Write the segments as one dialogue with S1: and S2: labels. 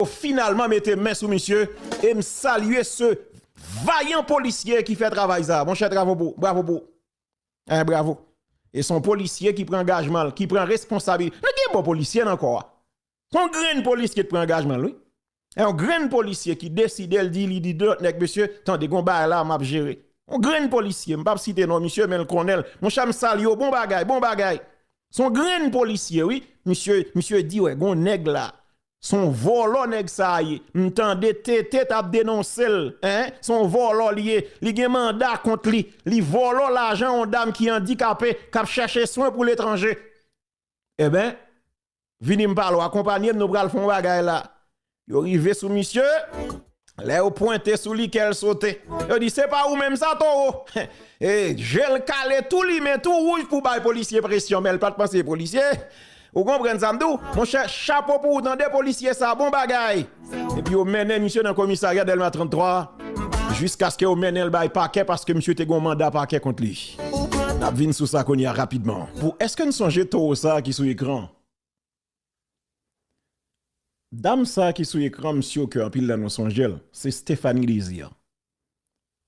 S1: Yo finalman mete men sou misye e m salye se vayan polisye ki fè travay sa. Mon chè travo pou, bravo pou. Eh bravo. E son polisye ki pran angajman l, ki pran responsabi. Nan gen bon polisye nan kò a. Son grenn polisye ki pran angajman l wi. E yon grenn polisye ki deside l di li di lòt nèg mesye tande gon bagay la map jere. Yon grenn polisye, m pap site non misye men l konnen l. Mon chè m salye w, bon bagay, bon bagay. Son grenn polisye wi. Misye, misye di wè gon nèg la. Son vòlò nèg sa a ye m tande TT tap denonse l hein son vòlò li ye li gen manda kont li li vòlò lajan on dam ki andikape kap chèche swen pou letranje enben vini m pale w akonpanye m nou pral fon bagay la yo rive sou misye. Lè yo pwente sou li kè l sote. Yo di se pa ou menm sa towo. Je l kale tou limen tou wouj pou bay polisye presyon men l pat panse polisye. Ou konprann sa m di w? Monchè chapo pou ou tande polisye sa bon bagay. Epi yo mennen misye nan komisarya Dèlma 33 jiskaske yo mennen l bay pakè paske misye te gon manda pakè kont li. N ap vin sou sa kounye a rapidman. Pou èske n sonje towo sa ki sou ekran an? Dam sa ki sou ekran m sur ke anpil nan nou sonje l, se Stéphanie Désir.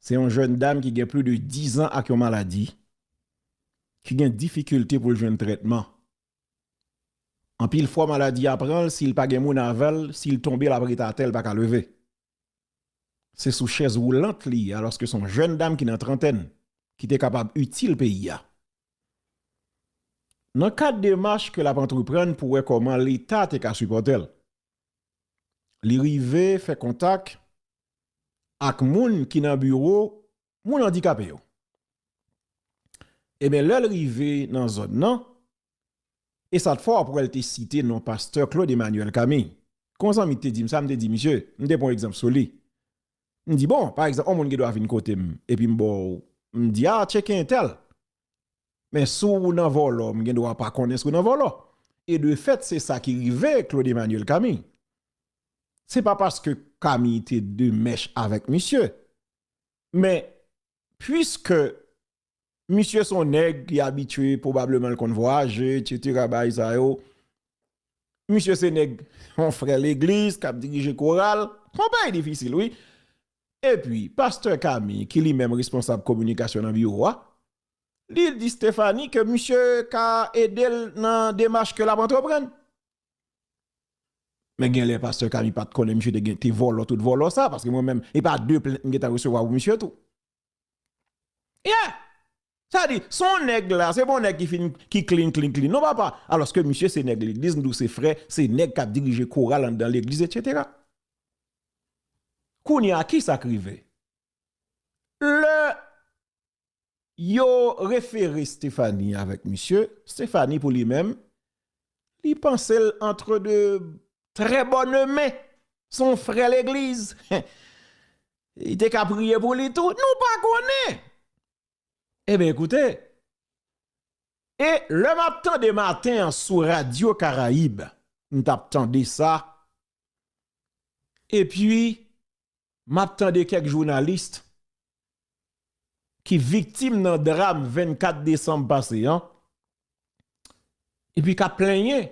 S1: Se yon jèn dam ki gen pli de 10 an ak yon maladi ki gen difikilte pou l jwenn trètman. Anpil fwa maladi a pran l, si l pa gen moun avè l, si l tonbe l ap rete atè l pa ka leve. Se sou chèz woulant li ye alòske se yon jèn dam ki nan trantèn ki te kapab itil peyi a. Nan kad demach ke l ap antreprann pou wè kòman leta te ka sipòte l, li rive fè kontak ak moun ki nan biwo moun andikape yo. Eben lèl rive nan zòn nan, e sa t fò wap wèl te site non pastè Claude Emmanuel Camille. Kon yon zanmi ki te dim sa, m te di misye, m te pran yon egzanp sou li. M di bon, pa egzanp yon moun gen dwa vin kote m epi m baw, m di a tcheke entèl. Men si w nan vòlò, m gen dwa pa konnen si w nan vòlò. E de fèt se sa ki rive Claude Emmanuel Camille. Se pa paske Camille te de mèch avèk misye, Men, puiske misye son nèg ki abitye, pwobableman l konn vwayaje, etsetera, bagay sa yo, misye se nèg, yon frè legliz k ap dirije koral, se yon bagay difisil wi. Epi, pastè Kami, ki li menm responsab kominikasyon nan biwo a, li di Stéphanie ke misye ka ede l nan demach ke l ap antreprann. Men genlè pastè Kami pat konnen misye te gen te vòlò tout vòlò sa paske mwen menm e pa 2 plent m gentan resevwa pou misye tou. Yeah! Sa di, son nèg la, se bon nèg ki fin ki clean clean clean non papa, alòske misye se nèg legliz m di w se frè, se nèg kap dirije koral anndan legliz etc. Kounya kisa k rive? Lè Yo refere Stéphanie avèk misye, Stéphanie pou li menm, li panse l antre de trè bòn men, se yon frè legliz, li te ka priye pou li tou, nou pa konnen! Eben ekoute, e lè m ap tande maten an sou radyo Karayib, m t ap tande sa, epi Map tande kèk journaliste ki viktim nan dram 24 desanm pase an epi kap plenyen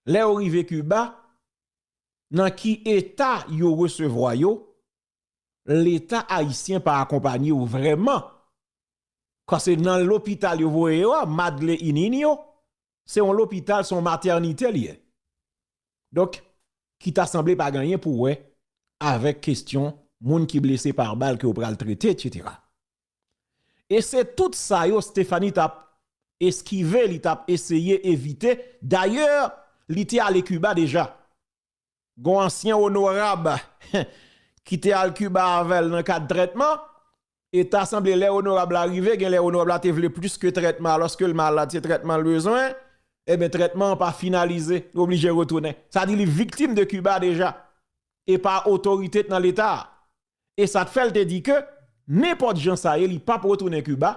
S1: lè yo rive Kiba nan ki eta yo resevwa yo leta ayisyen pa akonpanye yo vrèman kase nan lopital yo voye yo a madle inin yo Se yon lopital, se yon matènite li ye. Donk, ki ta sanble pa gen anyen pou wè avèk kestyon moun ki blese pa bal ke yo pral trete, etsetera. E se tout sa yo Stéphanie t ap eskive, li t ap eseye evite. Dayè, li te ale Kiba deja. Gon ansyen onorab ki te al Cuba avèl nan kad trètman, e ta sanble lè onorab la rive genlè onorab la te vle plis ke trètman alòske l malad se trètman l bezwen, enben trètman an pa finalize, li oblije retounen. Sa di li viktim de Cuba deja, e pa otorite k nan leta a. e sa t fè l te di ke nenpòt jan sa ye li pap retounen Kiba,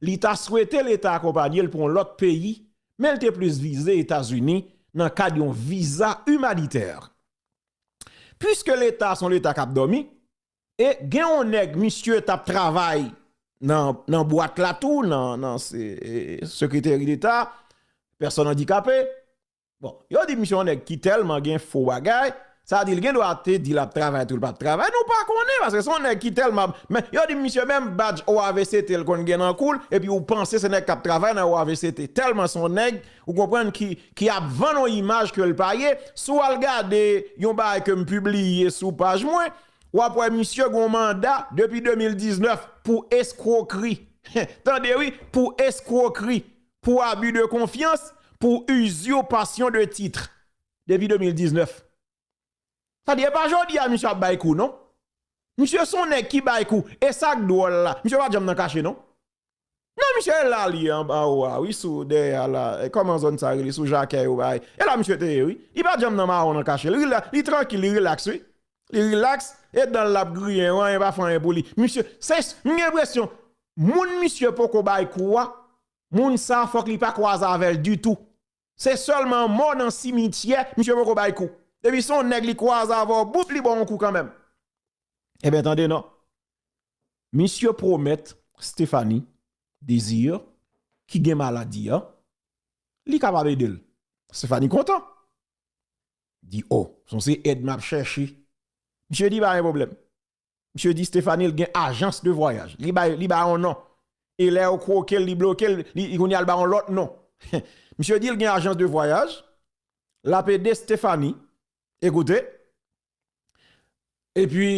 S1: li ta swete leta akonpanye l pou yon lòt peyi men l te plis vize Etazini nan kad yon viza imanitè. Puiske leta s on leta k ap dòmi e gen yon nèg misye t ap travay nan bwat la tou nan sekreteri deta pèsòn andikape, Bon, yo di misye yon nèg ki tèlman gen fo bagay, sa di li gen dwa te di lap travay tou li pap travay, nou pa konnen paske se yon nèg ki tèlman ap, men yo di misye menm badj OAVCT l konn gen nan kou l epi ou panse se nèg kap travay nan OAVCT tèlman se yon nèg ou konprann ki ki ap vann yon imaj ke l pa ye, si w al gade yon bagay ke m pibliye sou paj mwen wap wè misye gen yon manda depi 2019 pou eskwokri, tande wi pou eskwokri pou abus de confiance, pou usurpation de titre depi 2019. Sa di e pa jodi a misye ap bay kou non. Misye son nèg ki bay kou e sak dwòl la misye pa janm nan kache non. Nan misye e la li ye anba ou a wi sou dèyè a la kòman zòn sa rele sou Jakè yo bagay e la misye te ye wi. Li pa janm nan mawon nan kache li li trankil li relax wi. li relax e danl lap griyen anyen pa fè anyen pou li misye se m gen enpresyon moun misye poko bay kou a moun sa fòk li pa kwaze avèl ditou se sèlman mò nan simityè misye poko bay kou depi se yon nèg li kwaze avèw boop li baw yon kou kanmenm enben tande non misye pwomèt Stéphanie Désir ki gen maladi an li kapab edel Stéphanie kontan. di oh. Son se èd map chèche. Misye di pa gen pwoblèm. Misye di Stefanil gen ajans de vwayaj. Li bay li ba yon non. E lè yo kwokel li blokel li kounye a li ba yon lòt non. Misye dil gen ajans de vwayaj. Lap ede Stefani. Ekoute. Epi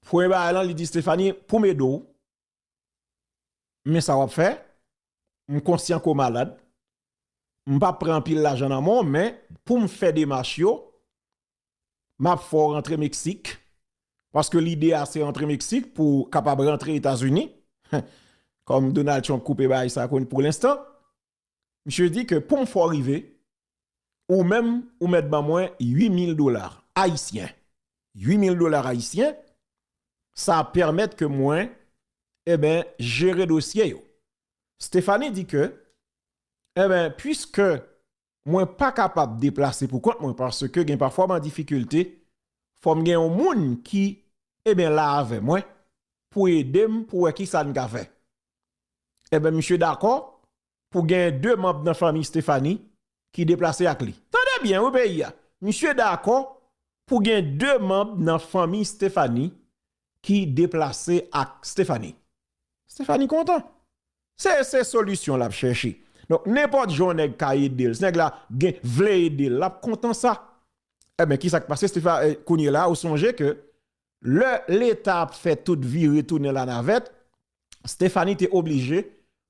S1: premye bagay lan li di Stefani poum ede w. Men sa wap fè, m konsyan ke w malad, m pap pran anpil lajan nan men w, men pou m fè demach yo, map fè w rantre Meksik, paske lide a se rantre Meksik pou w kapab rantre Etazini, kòm Donald Trump koupe bagay sa pou lenstan. Misye di ke poum fè w rive, ou menm ou mèt ban mwen 8000 dollars Haïtiens. 8000 dollars Haïtiens, sa ap pèmèt ke mwen eben jere dosye yo. Stéphanie di ke eben puiske mwen pa kapab deplase pou kont mwen paske gen pafwa m an difikilte, fòm gen yon moun ki eben la avè mwen pou edem pou wè kisa n ka fè. Enben misye dakò pou genyen 2 manb nan fanmi Stephanie ki deplase ak li. Tande byen wi peyi a. Misye dakò pou gen 2 manb nan fanmi Stephanie ki deplase ak Stephanie. Stephanie kontan. Se se solisyon lap chèche. Donk nenpòt jan yon nèg ka ede l, si nèg la gen vle ede l, lap kontan sa. Enben kisa k pase Stephanie, kounyela ou sonje ke lè leta ap fè tout vire tounen lanavèt, Stephanie te oblije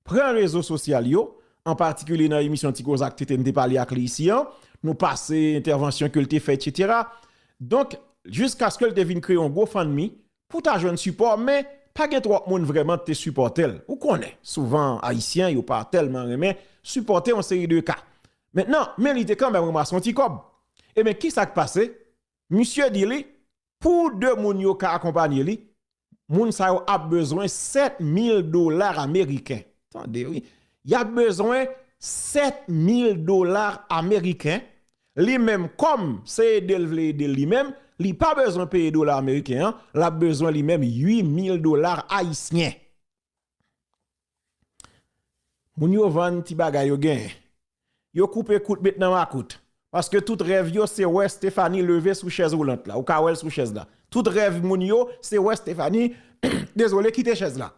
S1: pran rezo sosyal yo, an patikilye nan emisyon Ti Kozak TT m te pale ak li isi an, nou pase entèvansyon ke l te fè etsetera. Donk, jiskaske l te vin kreye yon GoFundMe pou ta jwenn sipò, men pa gen twòp moun vrèman k te sipòte l. Ou konnen, souvan Ayisyen yo pa tèlman renmen sipòte yon seri de ka. Mentnan, men li te kanmenm ranmase yon ti kòb. Eben, kisa k pase? Misye di li, pou 2 moun yo ka akonpanye li, moun sa yo ap bezwen 7 mil dolar ameriken. Tande wi, y ap bezwen 7 mil dolar ameriken, li menm kòm se ede l vle ede l li menm, li pa bezwen peye dola ameriken an, l ap bezwen li menm 8 mil dolar ayisyen. Moun yo vann ti bagay yo genyen. Yo koupe kout met nan makout. Paske tout rèv yo se wè Stéphanie leve sou chèz woulant la. Ou ka wè l sou chèz la. Tout rèv moun yo se wè Stéphanie dezole kite chèz la.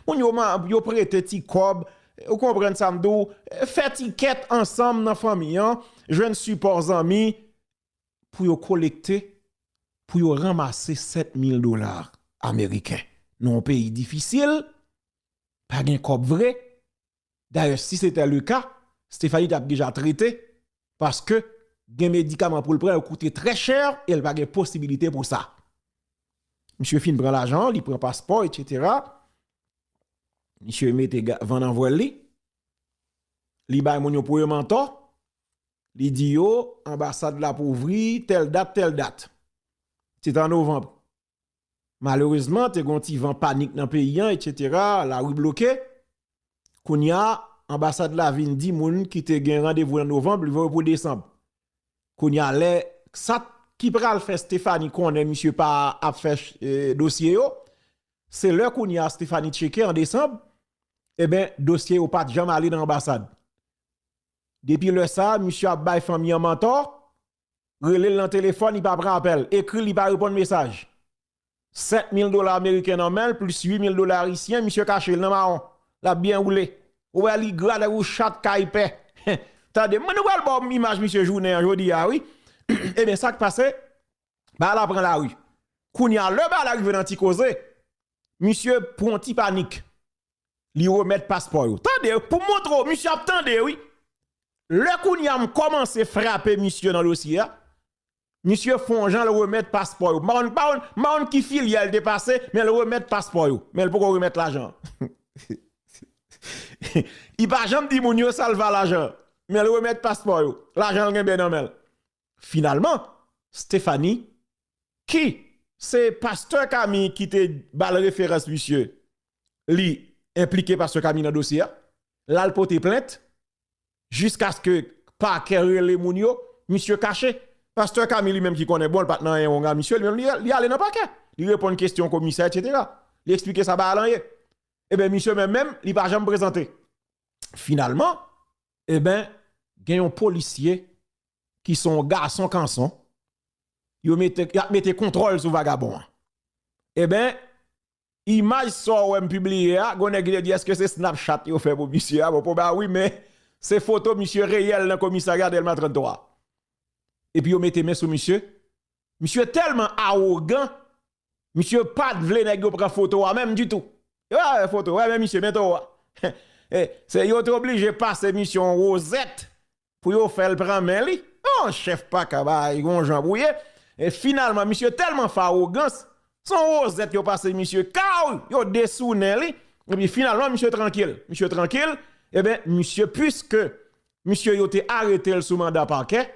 S1: Moun yo yo prete ti kòb, ou konprann sa m di w, fè ti kèt ansanm nan fanmi an, jwenn sipò zanmi, pou yo kolekte pou yo ranmase 7 mil dola ameriken nan yon peyi difisil, pa gen kòb vre, dayè si se te le ka, Stéphanie t ap deja trete paske gen medikaman pou l pran yo koute trè chè e l pa gen posibilite pou sa. Misye fin pran lajan, li pran paspò etsetera, misye mete van nan vwèl li, li bay moun yo pou yo mantò, Li di yo, anbasad la ap ouvri tèl dat, tèl dat. Se te an novanb. Malerezman, te gen yon ti van panik nan peyi an, etsetera, lari bloke. Kounye a, anbasad la vin di moun ki te gen randevou nan novanb, li voye yo pou desanb. Kounye a, lè ksat ki pral fè Stéphanie konnen misye pa ap fè dosye yo, se lè kounye a Stéphanie tcheke an desanb, eben, dosye yo pa t janm ale nan anbasad. Depi lè sa a misye ap bay fanmi an mantò, rele l nan telefòn li pa pran apèl l, ekri l li pa reponn mesaj. 7 mil dola ameriken nan men l plis 8 mil dola ayisyen misye kache l nan mawon, l ap byen woule. Ou wè li gra tankou chat kay pè. Tande m, nou pral ba w imaj misye jounen an jodi a wi. Ebyen sa k pase, bagay la pran lari. Kounye a lè bagay la rive nan ti koze, misye pran yon ti panik. Li remèt paspò yo. Tande pou m montre w misye ap tande wi. Lè kounye a m kòmanse frape misye nan dosye a, misye fon jan l remèt paspò yo. M pa konn, m pa konn, m pa konn ki filyal li te pase men l remèt paspò yo. Men l poko remèt lajan an. Li pa janm di moun yo sa l fè a lajan an. Men l remèt paspò yo. Lajan l genbe nan men l. Finalman, Stephanie, ki se pastè Kami ki te ba l referans misye, li enplike pastè Kami nan dosye a, l al pote plent, jiskaske pakè rele moun yo, misye kache. Pastè Kami li menm ki konnen bon l pa t nan anyen wonga misye, li menm li ale nan pakè, li reponn kesyon komisè etsetera, li esplike sa Baal an ye. Eben misye menm menm li pa janm prezante. Finalman, eben gen yon polisye ki son gason kanson yo mete yap mete kontwòl sou vagabon an eben imaj sa w wè m pibliye a gon nèg ki te di èske se snapchat yo fè pou misye a bon pwoba wi men se foto misye reyèl nan komisarya dèlma 33 epi yo mete men sou misye misye tèlman awogan Misye pat vle nèg yo pran foto a menm ditou. Yo pa vle foto, wè men misye men towo a. Se yo te oblije pase misye yon wozèt pou yo fè l pran men li. Yon chèf pa ka bay yon jan pou ye. E finalman misye tèlman fawogans, se yon wozèt yo pase misye kaw, yo desounen li. E pi finalman misye trankil. Misye trankil, e ben misye pwiske misye yo te arete l sou manda pakè,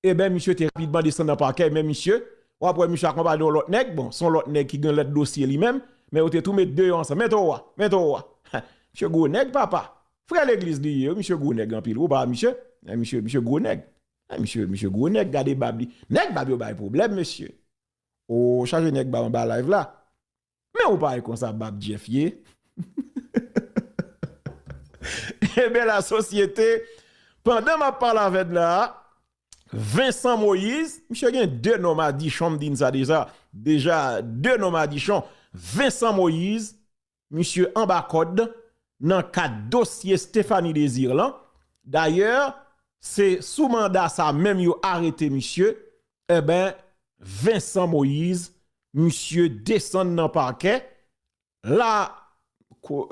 S1: Eben misye te rapidman desann nan pakè men misye, wap wè misye akonpaye yon lòt nèg, bon son lòt nèg ki gen lòt dosye li menm, men yo te tou met 2 yo ansanm, mèt owa, mèt owa, heh misye gwo nèg papa, frè legliz li ye wi misye gwo nèg anpil wi ou pa wè misye, eh misye, misye gwo nèg, eh misye, misye gwo nèg gade bab li, nèg bab yo bay pwoblèm mesye, oo chaje nèg bab anba live la. Men ou pa wè konsa bab Jeff ye. Enben la sosyete, pandan map pale avèd la, Vincent Moïse, misye gen 2 non madichon m di n sa deja, deja 2 non madichon, Vincent Moïse, misye anba kòd nan kad dosye Stéphanie Désir lan, dayè se sou manda sa menm yo arete misye, enben Vincent Moïse misye desann nan pakè, la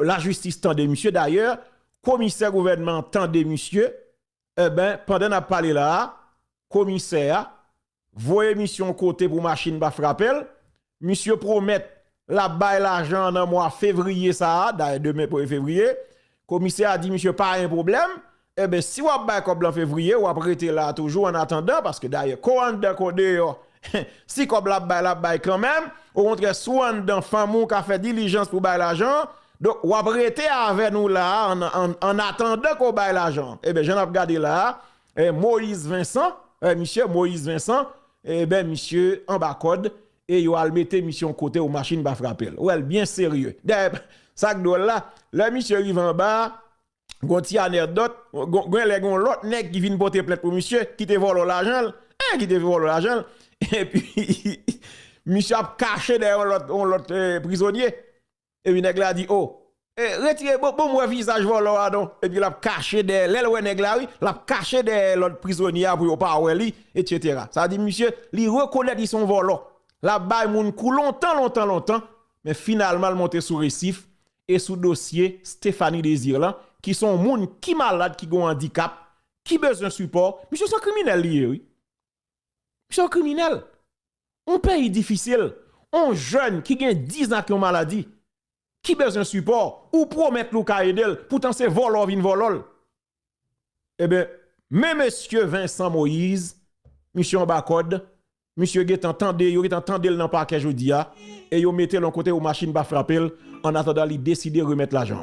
S1: lajistis tande misye, dayè, komisè gouvènman an tande misye, enben, pandan n ap pale la a, komisè a, voye misye yon kote pou machin pa frape l, misye pwomèt l ap bay lajan an nan mwa fevriye sa a, dayè demen premye fevriye, Komisè a di misye pa yon pwoblèm, enben si w ap bay kòb lan fevriye, w ap rete la a toujou annatandan, paske dayè ko anndan ko deyò, si kòb la ap bay l ap bay kanmenm, okontrè si w anndan fanm ou ka fè dilijans pou bay lajan an, donk w ap rete avè nou la a annatandan ko bay lajan an. Enben jan n ap gade la a, Moïse Vincent, misye Moïse Vincent, enben misye anba kòd, e yo al mete misye yon kote ou machin pa frape l, ou wè l byen serye. Dayè, sa k dwòl la, lè misye rive anba a, gon ti anèdòt, gen lè gen yon lòt nèg ki vin pote plent pou misye, ki te vòlò lajan l, eh! ki te vòlò lajan l, epi misye ap kache dèyè yon lòt prizonye. Epi nèg la di oh eh retire bon bon wè vizaj vòlò a non epi lap kache dèyè lèl wè nèg la wi lap kache dèyè lòt prizonye a pou yo pa wè li etc sa di misye li rekonèt li son vòlò lap bay moun kou lontan lontan lontan men finalman l monte sou resif e sou dosye Stéphanie Désir lan ki son moun ki malad ki gon andikap ki bezwen sipò misye son kriminèl li ye wi. Misye yon kriminèl. Yon peyi difisil, yon jèn ki gen 10 ak yon maladi, ki bezwen sipò, ou pwomèt li ou ka ede l, poutan se vòlò w vin vòlò l. Eben, men mesye Vincent Moïse, misye anba kòd, misye gen tan tande, yo gen tan tande l nan pakè jodi a, e yo mete l yon kote pou machin pa frape l, annatandan li deside remèt lajan an.